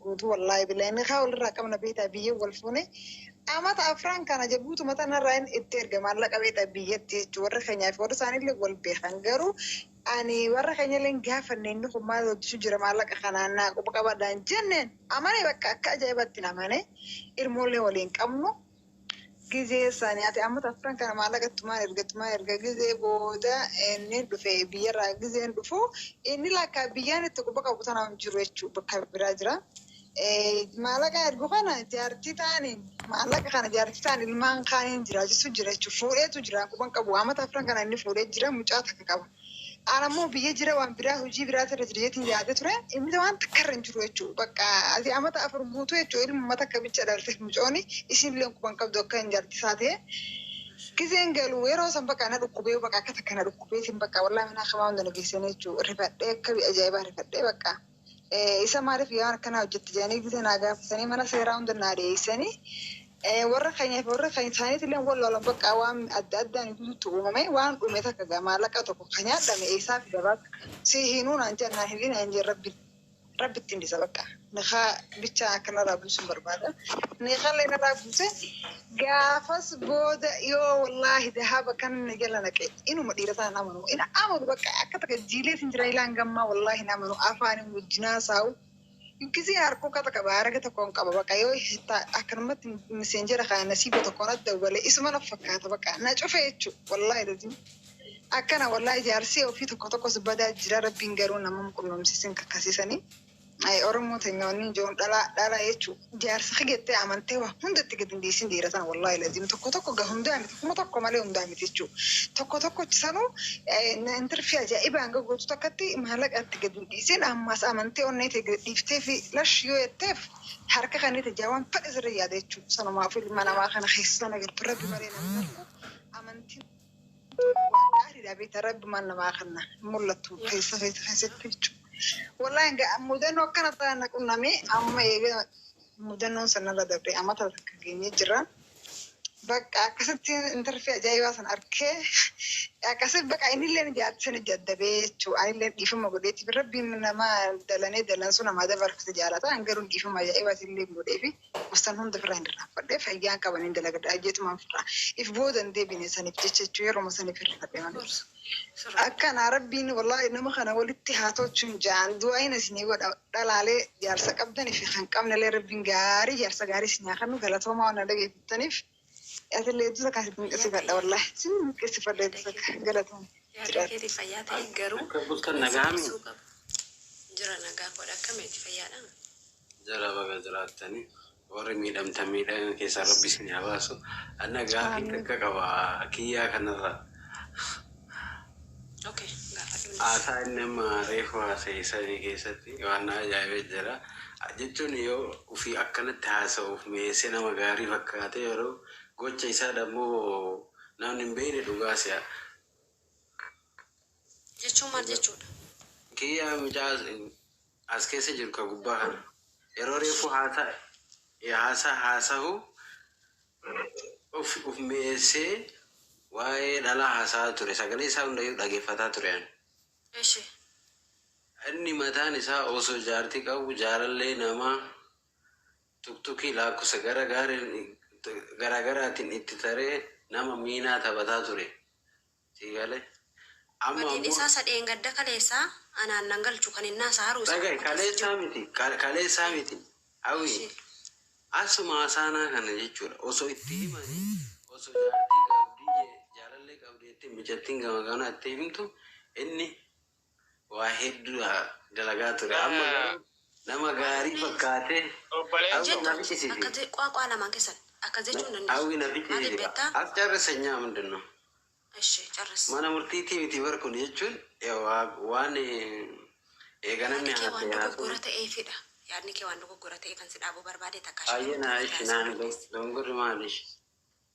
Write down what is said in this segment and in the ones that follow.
Guutuu wallaahi billahi inni kaa walirraa qabna beektaa biyyeen wal fuune amata afraan kana jabuutu mata narraa inni itti erga maallaqa beektaa biyyatti jechuun warra keenyaa fi warra isaaniillee wal beekan garuu ani warra keenyallee gaafanne inni kun maal hojjechuu jira maallaqa kanaan naa quba qabadaan jenneen amane bakka akka ajaa'ibaatti namane ilmoollee waliin qabnu. Gizee isaa nyaate amma afran kana maallaqa tumaan erga tumaan erga gizee booda inni dhufe biyyarraa gizeen dhufu inni lakka biyyaan itti quba qabu tanaa hin jiru jechuudha bakka biraa jira. Maallaqa ergu kana jaartii taaniin maallaqa kana jaartii taan ilmaan kaaniin jiraachisuu jira jechuudha fuudheetu jira quban qabu amma afran kana inni fuudhee jira mucaa takka qaba. Ana immoo biyya jira waan biraa hojii biraa irra jira jeetiin yaada ture. Inni waan takka irra hin jiru jechuudha. Bakka ati amata afur guutuu jechuudha ilma mata akka bicha dhalte mucooni isiin illee quba hin qabdu akka hin jarti isaa ta'e. Gizeen galu yeroo san bakka na dhukkubee bakka akka takka na dhukkubeetiin bakka wallaahi manaa kamaa hunda na geessanii jechuudha. Rifadhee akka ajaa'ibaa rifadhee bakka. Isa maaliif waan akkanaa hojjette jedhanii gita naa gaafatanii mana seeraa hunda naa dhiyeessanii warra keenyaa fi warra keenya isaaniitillee wal loolan bakka waan adda addaan guutuutti uumame waan dhume takka gaa maallaqa tokko kan nyaadhame eessaa fi gabaa si hinuu naan jedhan naan hidhii naan jedhan rabbi rabbi ittiin dhisa bakka nikaa bichaa akkanarraa buusuun barbaada nikallee narraa buuse Gaafas booda yoo wallaahi dahaba kan na jala naqe inuma dhiira sana hin amanu. Hin amanu bakka akka takka jiilee sin jira ilaa hanga ammaa wallaahi hin amanu afaanin wajjin haasa'u. Gisee harkoo kata qaba harage tokkoon qaba bakka yoo ta- akkanumatti miseenjera kana nasiiba tokkoon adda hubale isuma na fakkaata bakka na cufe jechuu wallaahi lazim. Akkana wallaahi jaarsee ofii tokko tokkos badaa jira rabbiin garuu namam qunnamsiisin kakkasisanii. Ayi oromoo tenya wani ijoon dhala dhala jechu jaarsa ke gette amante wa hunda itti gad hin dhiisin dhiira tana wallahi lazim tokko tokko ga hunda miti kuma tokko male hunda miti jechu tokko tokko sanu hin tirfi ajaiba hanga gotu takkatti maalaqa itti gad hin dhiisin ammas amante onne te gad dhiifte fi lash yoo jettef harka kennite ja wan fedhe sirri yaada jechu sanumafu ilma nama kana kessa sana galtu rabbi male namni arku amantin Waan gaariidha beektaa rabbi maal namaa kanna hin mul'attu keessa keessa keessatti jechuudha. Wallahi ga- mudannoo akkana ta'an na qunnamee amma eega mudannoon sanarra dabree amata takka geenyee jirra. Bakka akkasitti intarfii ajaa'ibaa sana arkee akkasitti bakka innillee ni jaatti sana jaddabee jechuudha. Anillee dhiifama godheetiif rabbiin nama dalanee dalansu namaa dabarfate jaalata. An garuu dhiifama ajaa'ibaa isinillee godheefi. Obsan hunda ofirraa hin irraanfadhe fayyaan qaba nin dalagadha jeetumaan ofirraa if booda hin deebine saniif jecha jechuu yeruma san if hirrifadhe malee akkana rabbiin wallaahi nama kana walitti haa tolchuun jaan du'aayin isinii godha dhalaalee jaarsa qabdanii fi kan qabnelee rabbiin gaarii jaarsa gaarii isinii haa kennu galatoomaa waan na dhageeffattaniif atillee hedduu takkaa si dinqisiifadha wallaahi si dinqisiifadha hedduu takka galatooma Yaada jiraadha. keetii fayyaa ta'e garuu Akka bultan nagaa mi? dhiisuu qaba. Jira nagaa koodha akkamiiti fayyaadha? Jara baga jiraattani warri miidhamtan miidhagna keessaa rabbi isin haa baasu anna gaafii Aamiin. takka qaba kiyyaa kanarra Okay, gaafadhu. haasaa inni amma reefu haasa'e sanii keessatti waan na ajaa'ibee jira jechuun yoo ofii akkanatti haasa'uuf mi'eessee nama gaarii fakkaatee yeroo gocha isaa dammoo namni hin beekne dhugaa si'a Jechuun maal jechuudha? kiyyaa mucaa as keessa jiru ka gubbaa kana yeroo reefuu haasa e haasa haasahu of of mi'eessee waa'ee dhalaa haasa'aa ture sagalee isaa hundayyuu dhageeffataa ture ani. Eshi. Inni mataan isaa osoo jaartii qabu jaalallee namaa tuktukii laakkosa gara gaariin gara garaatiin itti taree nama miinaa taphataa ture Sii galee. Amma Badii ammoo dhisaa sa dheengadda kaleessaa anaan nan galchu kan innaa sa haruusa dhaga'i akkuma keessa kaleessaa jiru. miti ka- kaleessaa Ee, miti hawii Eshi. asuma asaanaa kana jechuudha osoo itti himanii osoo jaartii qabdii jee- jaalallee qabdii ittiin mijattiin gama kanaa itti himtu inni waa heddu dalagaa ture amma garuu nama gaarii fakkaate hawwi na ficcisiise hawwi na ficcisiise as carrissa nyaa hundinnu mana murtiitii miti bar kun jechuun waan eega namni haasa'e haasa'u ayyana ishi naan dongorri maalish.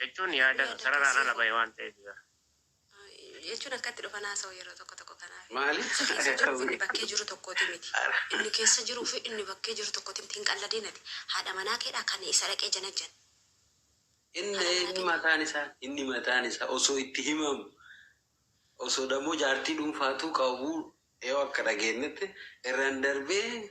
jechuun yaada sararaan ala bahe waan ta'eef jira. jechuun akkatti dhufan haasa'u yeroo tokko tokko kanaaf. Maali? Keessa jiruuf inni bakkee jiru tokkooti miti. Inni keessa jiruu fi inni bakkee jiru tokkooti miti. Hin qalladin ati. Haadha manaa keedhaa kan isa dhaqee janajjan. Inni inni mataan isaa inni mataan isaa osoo itti himamu osoo dammoo jaartii dhuunfaatuu qabu yoo akka dhageenyetti irraan darbee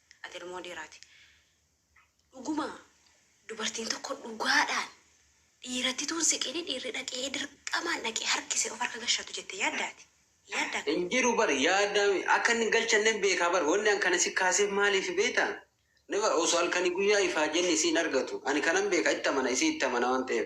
Ati ilmoo dhiiraati. Dhuguma dubartiin tokko dhugaadhaan dhiiratti tuun siqini dhiirri dhaqee dirqamaan dhaqee harkisee of harka gashatu jette yaaddaati? Yaaddaa? Hin jiru bar yaaddaa mi akka inni galchannen beekaa bar wanni an kana si kaaseef maaliif beektaa? Never osoo halkanii guyyaa ifaajeen isii hin argatu ani kanan beeka itti amana isii itti amana waan ta'eef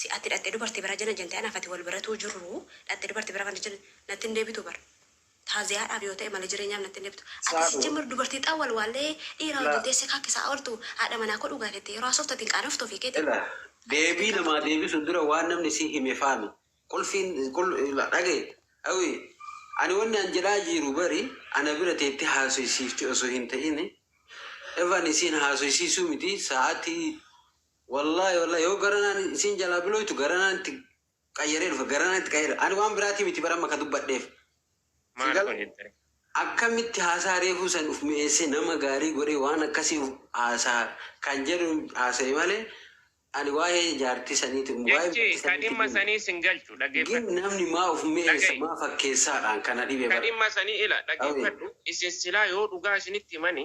Si ati dhaqxe dubarti bira janajante anaf ati wal baratuu jirru dhaqxe dubarti bira kan jan natti hin debitu bar taaziyaadhaaf yoo ta'e male jireenyaaf natti hin debitu ati Saafuu. sijjamar dubarti xaa wal waallee dhiira Ilaa. wajjin teesse kaa kesaa oltu haadha manaa koo dhugaa kette yeroo haasoftu ati hin qaanoftu ofii keeti Ila deebii namaa deebisu dura waan namni si hime faami qulfiin qul ila dhagahi awi ani wanni an jedhaa jiiru bari ana bira teetti haasoysiifti osoo hin ta'ini evan isiin haasoysiisuu miti sa'atii Wallahi wallahi yoo garanaan isiin jalaa bilooytu garanaan itti qayyaree dhufa garanaan itti qayyare ani waan biraatii miti bara amma ka dubbadheef si Maal gal kun jettani? akkamitti haasaa reefuu san uf mi'eessee nama gaarii godhee waan akkasii uf haasaa kan jedhu haasa'e malee ani waa'ee jaartii saniiti waa'ee Jechi jaartii ka saniiti dhimma gin sanii sin galchu gin dhaggeeffadhu. namni maa uf mi'eessa Dhaga'i. maa fakkeessaadhaan kana dhibe Ka bara dhimma sanii ila dhaggeeffadhu. Isin silaa yoo dhugaa isinitti himani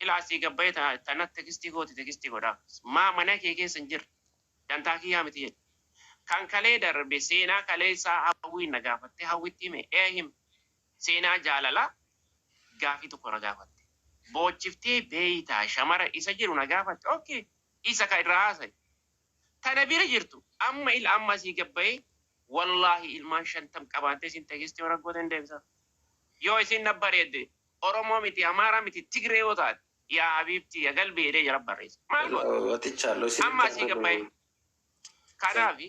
Ilaa asii gabbayee ta- tana tekstii gooti tekstii godhaaf. Maa mana kee keessa hin jirre. Dantaa kiyyaa miti jedhe. Kan kalee darbe seenaa kalee isaa hawwiin na gaafatte hawwitti hime ee him. Seenaa jaalalaa gaafii tokko na gaafatte. Boochiftee beeytaa shamara isa jedhu na gaafatte okay isa ka irraa haasa'i. tana bira jirtu amma il amma asii gad bahee wallahi ilmaan shantam qabaattee isin teegessti yoo raggoota hin deebisaaf yoo isin na bareedde oromoo miti amaaraa miti tigree yoo taate yaa habiibtii ya galbii jedhee jara barreessa maal goota Watichaa loo isin amma asii gad bahee kanaafi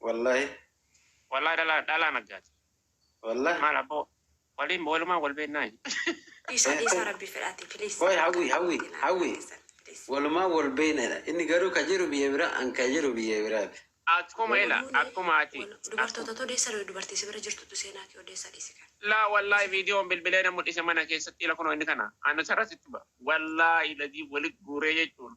Wallahi. Wallahi dhalaa dhalaa naggaati. Wallahi. Maal abboo waliin walumaan wal beennaa. Dhiisaa dhiisaa rabbii fedhaati please. Qoy hawwi hawwi hawwi walumaan wal beennadha inni garuu ka jiru biyya biraa an ka jiru biyya biraati. Akkuma ila akkuma ati. Dubartootatu odeessa ree dubartii si bira jirtutu seenaa kee odeessa dhiisi kan. Laa wallahi viidiyoon bilbilee na mudhise mana keessatti ila kunoo inni kana. Anusarra sitti ba'a. Wallahi ladii wali guuree jechuun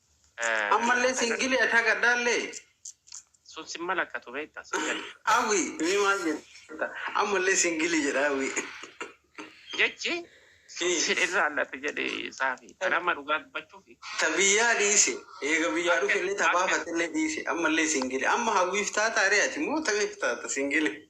Ammallee singili ati haga dhaallee. Sun sin malakkatu beekta sin gale. Hawwi mee maal jetta? Ammallee singili jedha hawwi. Jechi sun sin irraanlate jedhe saafi. An amma dhugaa dubbachuufi. Ta biyyaa dhiise eega biyyaa dhufellee ta baafatellee dhiise ammallee singili. Amma hawwiif taataaree ati moo tamiif taata singili?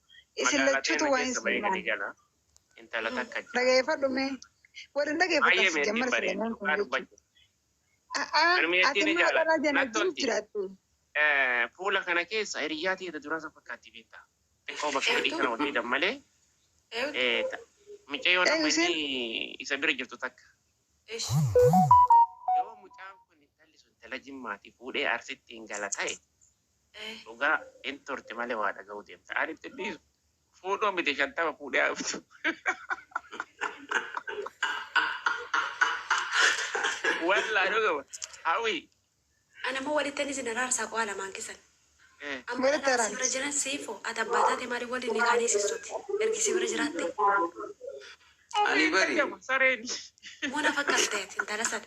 isin lachutu waan isin ilaala. Dhageeffadhu mee. Warri dhageeffatan si jammar Selemoon kun jechuudha. Ati immoo dhala jana jiru jiraattu. Fuula kana keessa hiriyyaa teeta duraa san fakkaatti beektaa. Xiqqoo bakka hidhii kana ol fidan malee. Micayyoo nama inni isa bira jirtu takka. Yoo mucaan kun intalli sun intala jimmaati fuudhee arsitti hin gala ta'e Dhugaa hin turti malee waa dhaga'uu deemta. Ani itti dhiisu. Fuudhuu miti shantama fuudhee haa dhuftu. Wallaa dhugama. Hawii. Ana moo walittani isin araarsaa qo'aa lamaan keessan. Eh. Amma Walitti kanaa si araarsi. bira jiran siifo ati abbaa taate maaliif waliin ni kaanee sissoti ergi si bira jiraatte. Ani bari. Sareen. Muna fakkaateeti intala sana.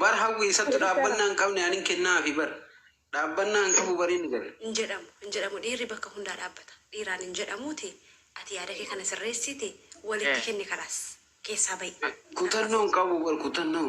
Bar hawwi isattu dhaabbannaa hin qabne anin kennaafi bar. Dhaabbannaa hin qabu bar inni gale. Hin jedhamu hin jedhamu dhiirri bakka hundaa dhaabbata dhiiraan hin jedhamuuti ati yaada kee kana sirreessiiti walitti kenni kalaas keessaa ba'i. Kutannoo hin qabu bar kutannoo.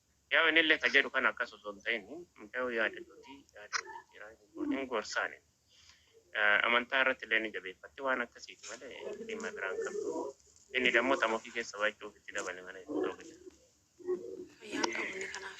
Yaw inille ka jedhu kana akkas osoo hin ta'in mucayoo yaada duuti yaada wal jijjiiraa hin gorsaa nin amantaa irratti illee ni jabeeffatti waan akkasiiti malee dhimma biraa hin qabdu inni dammoo tama ofii keessa baachuuf itti dabale malee hin ta'u jedha. Fayyaa hin qabu inni kanaaf.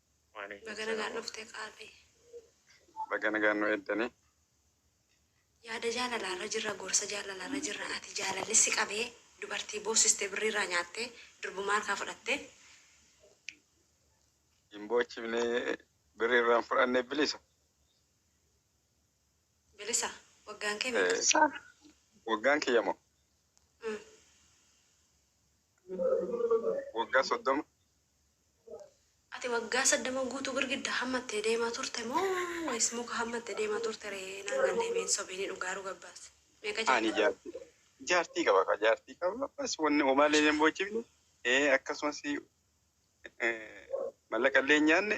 Waaleykum Baga nagaan salaam. dhufte qaalii. Baga nagaan nu eeddanii. Yaada jaalalaarra jirra, gorsa jaalalaarra jirra. Ati jaalalli si qabee dubartii boosiste birriirraa nyaattee durbumaa harkaa fudhattee Hin boochifne birri irraan fudhanne bilisa. bilisa waggaan kee meeqa? Eh, Sa- Waggaan kiyya moo? Mm. Waggaa soddoma. Ati waggaa saddama guutuu girgidda hammattee deemaa turte moo wayis muka hammatte deemaa turte ree naan gallee mee hin sobiini dhugaa dhuga baasi meeqa Ani jaalladha. jaartii jaartii qaba kaa jaartii qaba bas wanni homaa illee hin boochifne ee akkasumas eh, mallaqa illee hin nyaanne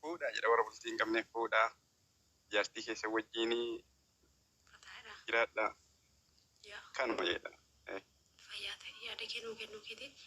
Fuudhaa jedha warra bultii hin qabneef fuudhaa jaartii keessan wajjiin Fataadha. jiraadhaa Yaa. kanuma jedha. Fayyaa ta'e yaada kee nuu kennuu keetiif.